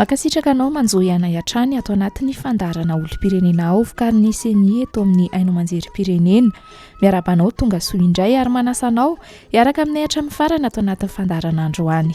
mankasitraka anao manjohy anay hatrany ato anatin'ny fandaharana olom-pirenena ao vokarin'ny seni eto amin'ny haino aman-jerim-pirenena miarabanao tonga soa indray ary manasanao hiaraka aminay hatramin'ny farana ato anatin'ny fandaharana androany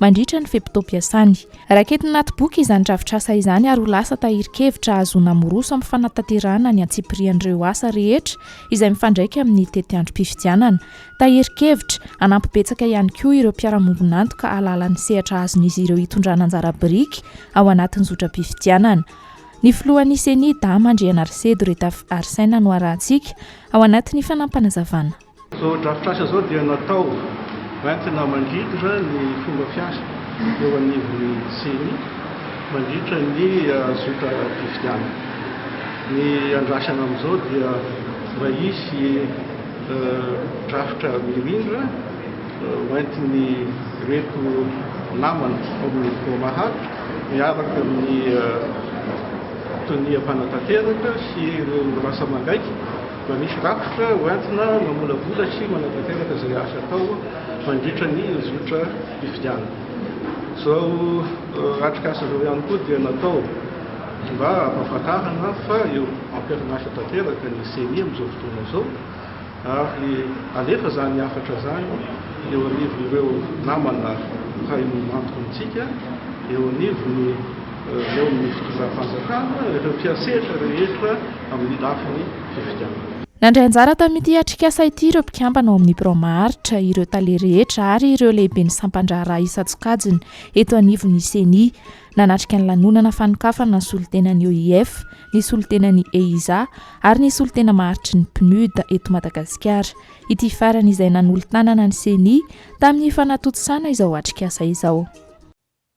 mandritra ny fe-potoam-piasany. Raketiny anaty boky izany drafitrasa izany ary ho lasa tahirin-kevitra ahazoana miroso amin'ny fanatanterahana ny antsipirian'ireo asa rehetra izay mifandraika amin'ny tetiandrom-pifidianana. Tahirin-kevitra hanampy betsaka ihany koa ireo mpiara-mombon'antoka hahalala ny sehatra azon'izy ireo hitondrana anjara biriky ao anatin'ny zotram-pifidianana. Ny filohan'ny Ceni, Dama Andrianarisedo Retafiarsena no arahantsika ao anatin'ny fanampanazavana. Izao drafitrasa izao dia natao hoentina mandrindra ny fomba fiasa eo anivon'ny Ceni mandritra ny zotram-pifidianana. Ny andrasana amin'izao dia mba hisy drafitra mirindra hoentin'ireto namana ao amin'ny Pomaha miaraka amin'ny tonia mpanatanteraka sy ireo lasa mangaiky. Mba misy rafitra ho entina mamolavola sy manatanteraka izay asa atao mandritra ny zotram-pifidianana. Izao atrikasa izao ihany koa dia natao mba hampahafantarana fa eo am-perinasa tanteraka ny ceni amin'izao fotoana izao ary alefa izany hafatra izany eo anivon'ireo namana mpiray antoka amintsika eo anivon'ny eo amin'ny fitondram-panjakana ireo mpiantsehatra rehetra amin'ny lafiny fifidianana. Nandray anjara tamin'ity atrikasa ity ireo mpikambana ao amin'ny birao maharitra, ireo tale rehetra ary ireo lehiben'ny sampan-draharaha isan-tsokajiny eto anivon'ny ceni. Nanatrika ny lanonana fanokafana ny solontenan'ny OIF, ny solontenan'ny EISA ary ny solontena maharitry ny PNUD eto Madagasikara ity farany izay nanolo-tanana ny ceni tamin'ny fanatontosana izao atrikasa izao.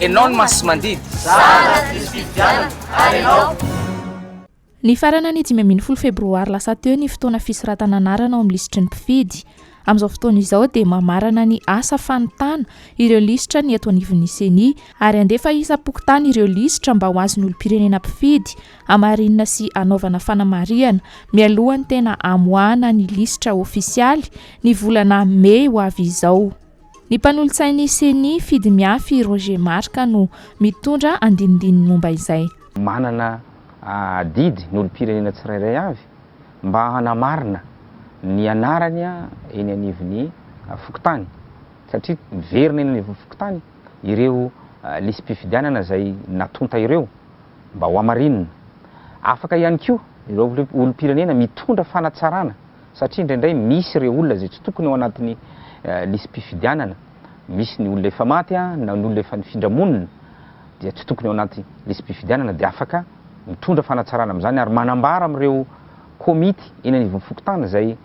Enao ny masimandidy. Zara tsisy fifidianana ary enao. Nifarana ny dimy ambin'ny folo febroary lasa teo ny fotoana fisoratana anarana ao amin'ny lisitry ny mpifidy. Amin'izao fotoana izao dia mamarana ny asa fanontana ireo lisitra ny eto anivon'ny ceni ary handefa isam-pokontany ireo lisitra mba ho azon'ny olom-pirenena mpifidy hamarinina sy hanaovana fanamarihana mialohan'ny tena hamoahana ny lisitra ofisialy ny volana mey ho avy izao. Ny mpanolotsain'ny Ceni, Fidy Miafy Roger Marc no mitondra andinindininy momba izay. Manana adidy ny olom-pirenena tsirairay avy mba hanamarina ny anarany eny anivon'ny fokontany satria miverina eny anivon'ny fokontany ireo lisi-pifidianana izay natonta ireo mba hohamarinina. Afaka ihany koa ireo olom-pirenena mitondra fanatsarana. Satria indraindray misy ireo olona izay tsy tokony ao anatin'ny lisi-pifidianana, misy ny olona efa maty na ny olona efa nifindra monina dia tsy tokony ao anaty lisi-pifidianana dia afaka mitondra fanatsarana amin'izany ary manambara amin'ireo komity eny anivon'ny fokontany izay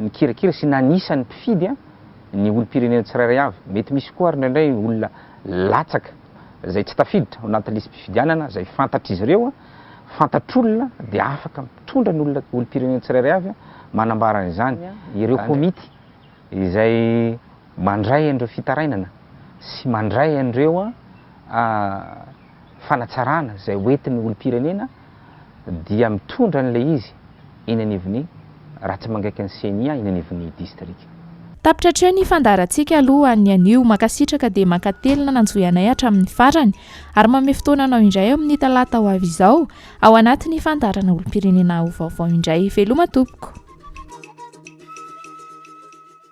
nikirakira sy nanisa ny mpifidy ny olom-pirenena tsirairay avy. Mety misy koa ary indraindray olona latsaka izay tsy tafiditra ao anatin'ny lisi-pifidianana izay fantatr'izy ireo fantatr'olona dia afaka mitondra ny olona, olom-pirenena tsirairay avy manambara an'izany ireo komity izay mandray an'ireo fitarainana sy mandray an'ireo fanatsarana izay hoentin'ny olom-pirenena dia mitondra an'ilay izy. eny anivon'ny, raha tsy mangaika ny ceni eny anivon'ny distrika. Tapitra hatreo ny fandaharantsika aloha an'ny anio, mankasitraka dia mankatelina nanjohy anay hatramin'ny farany, ary manome fotoana anao indray amin'ny talata ho avy izao, ao anatin'ny fandaharana olompirenena ho vaovao indray. Veloma tompoko.